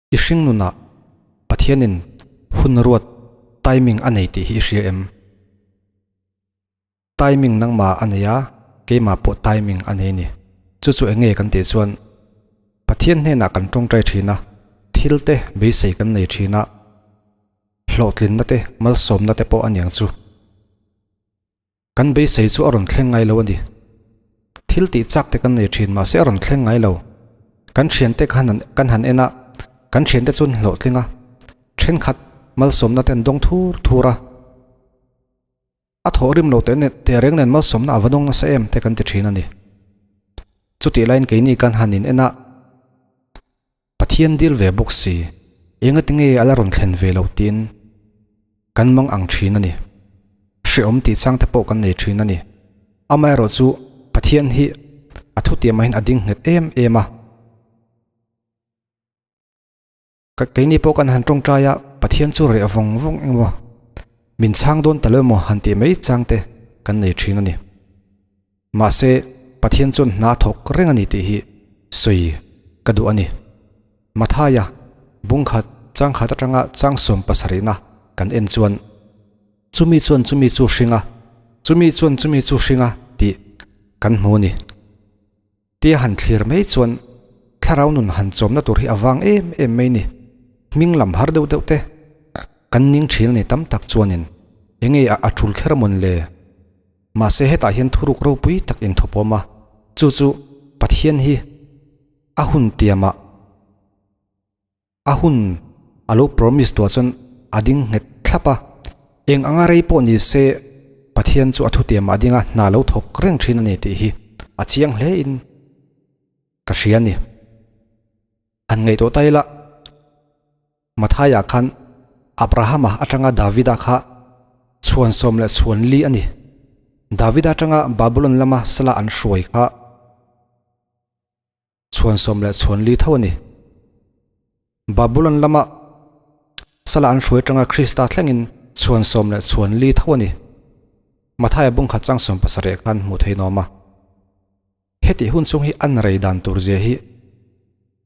I hringnunah Pathianin hun ruat timing a nei tih hi i hria em? Timing nangmah a nei a, keimah pawh timing a nei ni. Chu chu enge kan tih chuan Pathian hnenah kan tawngtai thin a, thilte beisei kan nei thin a, hlawhtlinna te, malsawmna te pawh a niang chu. Kan beisei chu a rawn thleng ngai lo a ni. Thil tih chak te kan nei thin mahse a rawn thleng ngai lo. Kan thiante kha kan han en a, kan thiante chu an hlawh tling a. Thenkhat malsawmna ten dawng thur thur a. A thawh rim lo teh nen teh reng nen malsawmna a va dawng nasa em te kan ti thin a ni. Chutih lain keini kan han in en a. Pathian dil ve bawk si, engatinge ala rawn thlen ve lo tiin kan mang ang thin a ni. Hrehawm tihchang te pawh kan nei thin a ni. Amaherawh chu Pathian hi a thutiamahin a ding nghet em em a. Keini pawh kan han tawngtai a, Pathian chu reh vawng vawng emaw, min chhang dawn ta lo emaw han tih mai chang te kan nei thin a ni. Mahse, Pathian chuan hna thawk reng a ni tih hi sawi ka duh a ni. Mathaia bungkhat changkhat atanga changsawm pasarihna kan en chuan, Chumi chuan chumi chu hring a, chumi chuan chumi chu hring a tih kan hmu a ni. Tia han thlir mai chuan thlarau nun han chawmna tur hi a vang em em mai ni. Hming lam har deuh deuh te kan ning thin nei tam tak chuanin enge a a tul kher mawn le. Mahse hetah hian thuruk ropui tak in thawpawm a, chu chu Pathian hi a hun tiamah. a hun a lo promise duah chuan a ding nghet thlap a, eng anga rei pawh ni se Pathian chu a thutiam ah a ding a, hna lo thawk reng thin a ni tih hi a chiang hle in ka hria ni. Han ngaih tawh ta ila, Matthai ah khan Abraham a atanga David a kha chhuan sawm leh chhuan li a ni. David a atanga Babylon lama sala an hruai kha, chhuansawm leh chhuanli tho a ni. Babulon lama sala an hruai tanga Krista thlengin chhuansawm leh chhuanli tho a ni. Mathaia bungkhat chang sawm pasarih ah khan hmuh theih nuam a. Heti hun chung hi an rei dan tur zia hi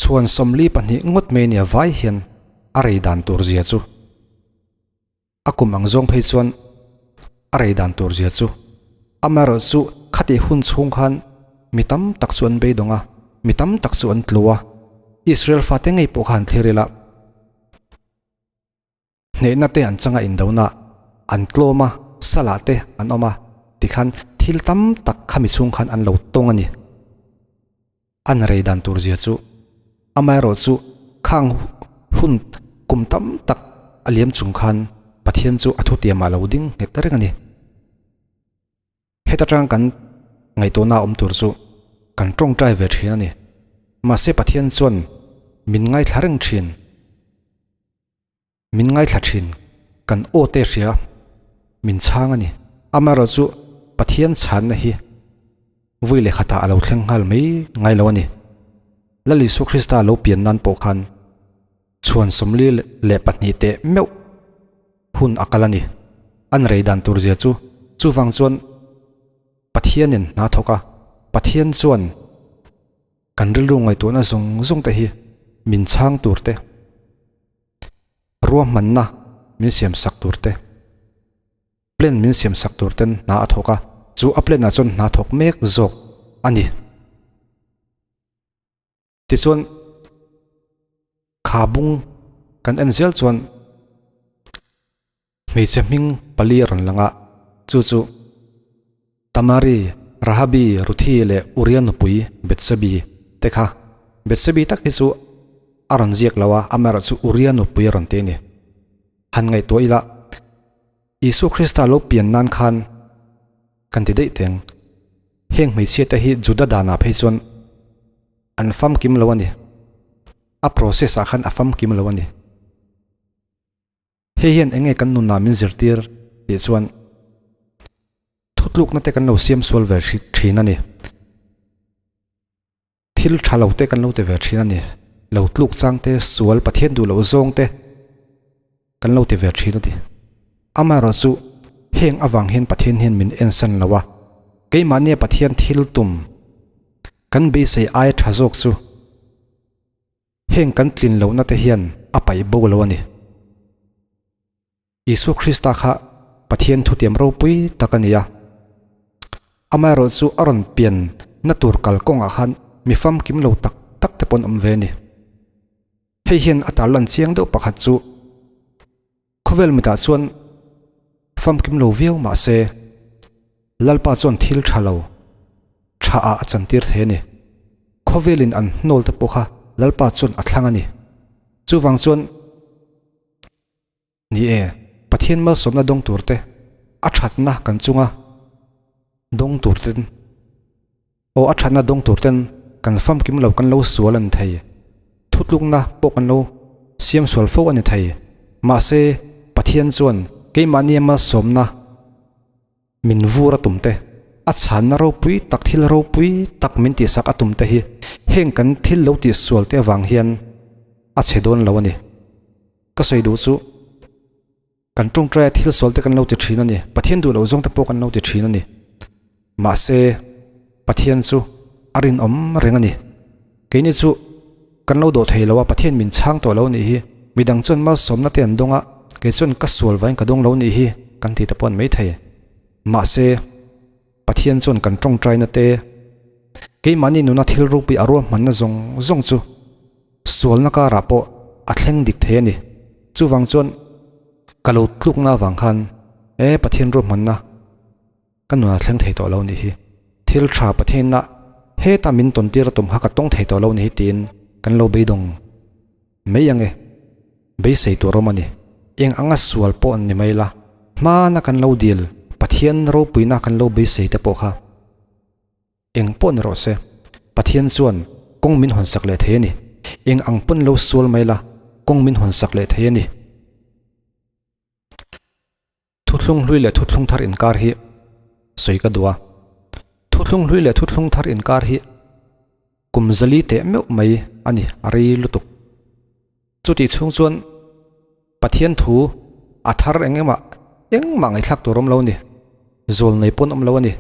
chhuansawmli pahnih ngawt mai nia vai hian a rei dan tur zia chu. A kum ang zawng phei chuan a rei dan tur zia chu amaherawh chu khati hun chhung khan mi tam tak chu an beidawng a, mi tam tak chu an tlu a, Israel fate ngei pawh kha an thlir ila, hneihna te an changa indonaah an tlawm a, salah te an awm a tikhan thil tam tak khami chhung khan an lo tawng a ni. an rei dan tur zia chu amaherawh chu khang hun kum tam tak a liam chung khan Pathian chu a thutiam ah lo ding nghet ta reng a ni. Heta tang kan ngaihtuahna ah awm tur chu kan tawngtai ve thin a ni. Mahse Pathian chuan min ngaithla reng thin. Min ngaithla thin, kan awte hria min chhang a ni. Amaherawh chu Pathian chhanna hi vui leh khatah a lo thleng nghal mai ngai lo a ni. Lal Isua Krista lo pian nan pawh khan chhuan sawmli leh pahnih teh meuh hun a kal a ni. An rei dan tur zia chu chuvang chuan Pathianin hna thawk a. Pathian chuan kan rilru ngaihtuahna zawng zawng te hi min chhang tur te. Ruahmanna min siam sak tur te, plan min siam sak tur ten hna a thawk a, chu a plan ah chuan hna thawk mek zawk a ni. Tichuan khabung kan en zel chuan Hmeichhe hming pali a rawn lang a, chu chu Tamari, Rahabi, Ruthi leh Uria nupui Betsebi te kha. Betsebi tak hi chu a rawn ziak lo a, amerh chu Uria nupui a rawn ti a ni. Han ngaihtuah ila, Isua Krista lo pian nan khan kan ti daih teng, heng hmeichhia te hi Juda danah phei chuan an famkim lo a ni, a process-ah khan a famkim lo a ni. Hei hian eng nge kan nunah min zirtir tih chuan thutlukna te kan lo siam sual ve thin a ni. Thil tha lo te kan lo ti ve thin a ni. Lo tluk chang te, sual, Pathian duh loh zawng te kan lo ti ve thin a ni. Amaherawh chu heng avang hian Pathian hian min en san lo a. Keimahnia Pathian thil tum kan beisei aia tha zawk chu Heng kan tlin lohna te hian a paih bo lo a ni. Isua Krista kha Pathian thutiam ropui tak a ni a, amaherawh chu a rawn pian na tur kal kawngah khan mi famkim lo tak tak te pawh an awm ve a ni. Hei hian a tarlan chiang deuh pakhat chu Khawvel mitah chuan famkim lo viau mah se, Lalpa chuan thil tha lo tha ah a chantir thei a ni. Khawvel in an hnawl te pawh kha Lalpa chuan a thlang a ni. Chuvang chuan ni e, Pathian malsawmna dawng tur te a thatna kan chunga dawng tur ten Aw a thatna dawng tur ten kan famkim lo kan lo sual a ni thei. Thutlukna pawh kan lo siam sual fo a ni thei. Mahse Pathian chuan keimahni ama sawmna min vur a tum te, a chhanna ropui tak thil ropui tak min tih sak a tum te hi heng kan thil lo tih sual te avang hian a che dawn lo a ni. Ka sawi duh chu Kan tawngtaia thil sualte kan lo ti thin a ni, Pathian duhloh zawngte pawh kan lo ti thin a ni. Mahse, Pathian chu a rinawm reng a ni. Keini chu kan lo dawh thei lo a, Pathian min chhang tawh lo nih hi. Midang chuan malsawmnate an dawng a, kei chuan ka sual vain ka dawng lo nih hi kan ti ta pawh an mai thei. Mahse. Pathian chuan kan tawngtai nate keimahni nuna thil rukpui a ruahmanna zawng zawng chu sualna karah pawh a thleng dik thei a ni. Chuvang chuan ka lo tluk na vang khan he Pathian ruahmanna ka nunah a thleng thei tawh lo nih hi, thil tha Pathiana heta min tawntir a tum kha ka tawng thei tawh lo nih hi tiin kan lo beidawng. Mei ange, beisei tur awm a ni. Eng anga sual pawh an ni mai la, hmana kan lo dil Pathian ropuina kan lo beisei te pawh kha eng pawh ni rawh se, Pathian chuan kawng min hawnsak leh thei a ni. Eng ang pawn lo sual mai la, kawng min hawnsak leh thei a ni. Thuthlung hlui leh thuthlung thar inkar hi sawi ka duh a. Thuthlung hlui leh thuthlung thar inkar hi kum zali teh meuh mai a ni a rei lutuk. Chutih chhung chuan Pathian thu a thar eng emaw engmah ngaihtlak tur awm lo a ni, zawlnei pawn awm lo a ni.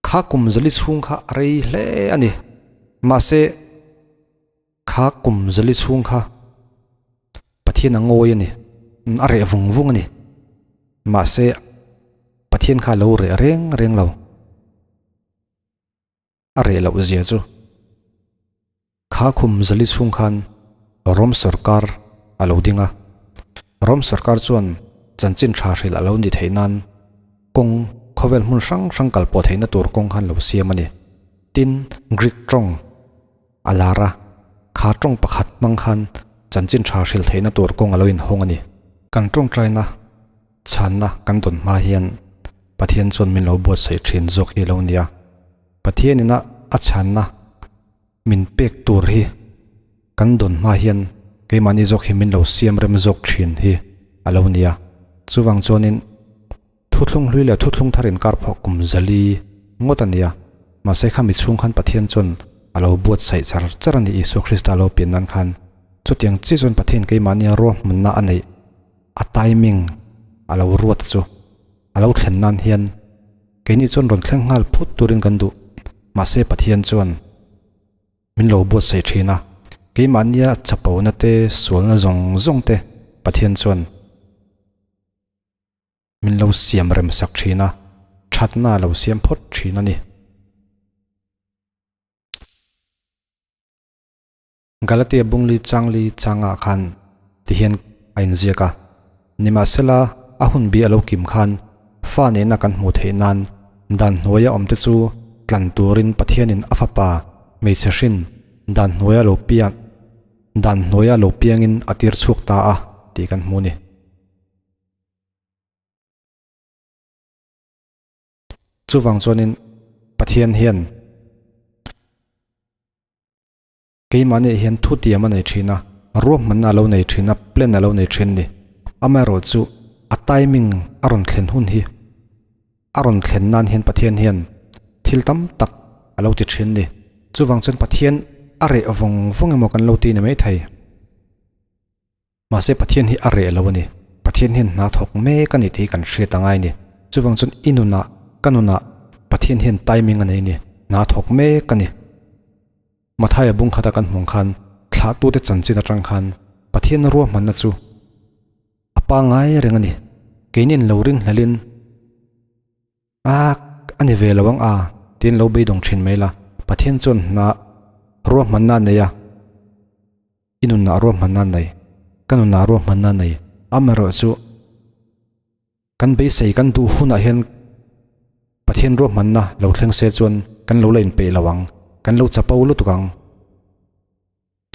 Kha kum zali chhung kha a rei hle a ni. Mahse, kha kum zali chhung kha Pathian a ngawi a ni, a reh vung vung a ni. Mahse, Pathian kha a lo reh reng reng lo. A reh loh zia chu. Kha khum zali chhung khan Rom sorkar a lo ding a, Rom sorkar chuan chanchin tha hril a lo ni theih nan kawng khawvel hmun hrang hrang kal pawh theihna tur kawng khan lo siam a ni. Tin, Greek tawng a lar a, kha tawng pakhat hmang khan chanchin tha hril theihna tur kawng a lo inhawng a ni. Kan tawngtaina chhanna kan dawn hma hian Pathian chuan min lo buatsaih thin zawk hi a lo ni a, Pathianin a chhanna, min pek tur hi kan dawn hma hian keimahni zawk hi min lo siam rem zawk thin hi a lo ni a, chuvang chuanin thuthlung hlui leh thuthlung thar inkar pawh kum zali ngawt a nia, mahse khami chhung khan Pathian chuan a lo buatsaih char char a ni, Isua Krista lo pian nan khan chutiang chiah chuan Pathian keimahnia ruahmanna a neih a timing a lo ruat a chu. a lo thlen nan hian keini chuan rawn thleng nghal phut turin kan duh, mahse Pathian chuan min lo buatsaih thin a, keimahnia chapona te sualna zawng zawng te Pathian chuan min lo siam rem sak thin a, thatna a lo siam phawt thin a ni. Galatia Bungli Changli changah khan ti hian a inziak a, Nimahsela, a hun bia a lo kim khan fa nena kan hmuh theih nan dan hnuaia awmte chu tlan turin Pathianin a Fapa hmeichhe hrin dan hnuaia lo piang dan hnuaia lo piangin a tir chhuak ta a tih kan hmu a ni. Chuvang chuanin Pathian hian. Keimahni hian thutiam a nei thin a, ruahman a lo nei thin a, plan a lo nei thin ni. Amaherawhchu chu a timing a rawn thlen hun hi a rawn thlen nan hian Pathian hian thil tam tak a lo ti thin ni. Chuvang chen Pathian a reh vawng vawng emaw kan lo ti ni maithei. Mahse, Pathian hi a reh lo a ni. Pathian hian hna thawk mek a ni tih hi kan hriat a ngai ni. Chuvang chuan i nunah, ka nunah Pathian hian timing a nei ni, hna thawk mek a ni. Mathaia bung khata kan hmang khan thlahtute chanchin atang khan Pathiana ruahmanna chu a pangai reng a ni. Keini an lo ring hlelhin. Aak! A ni ve lo ang a, tiin lo beidawng thin mai la. Pathian chuan hna ruahmanna nei a, i nunna ruahmanna nei, ka nunna ruahmanna nei, amaherawh chu kan beisei kan duh hunah hian Pathian ruahmanna lo thleng se chuan kan lo la inpeih lo ang, kan lo chapo lutuk ang.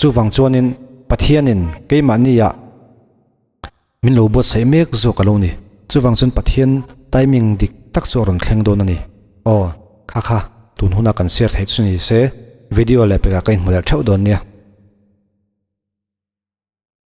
Chuvang chuanin Pathianin keimahnia min lo buatsaih mek zawk a lo ni. Chuvang chuan Pathian timing dik tak chu a rawn thleng dawn a ni. Aw, kha kha, tunhuna kan share theih chu ni se, video leh pekah ka inhmu leh theuh dawn nia.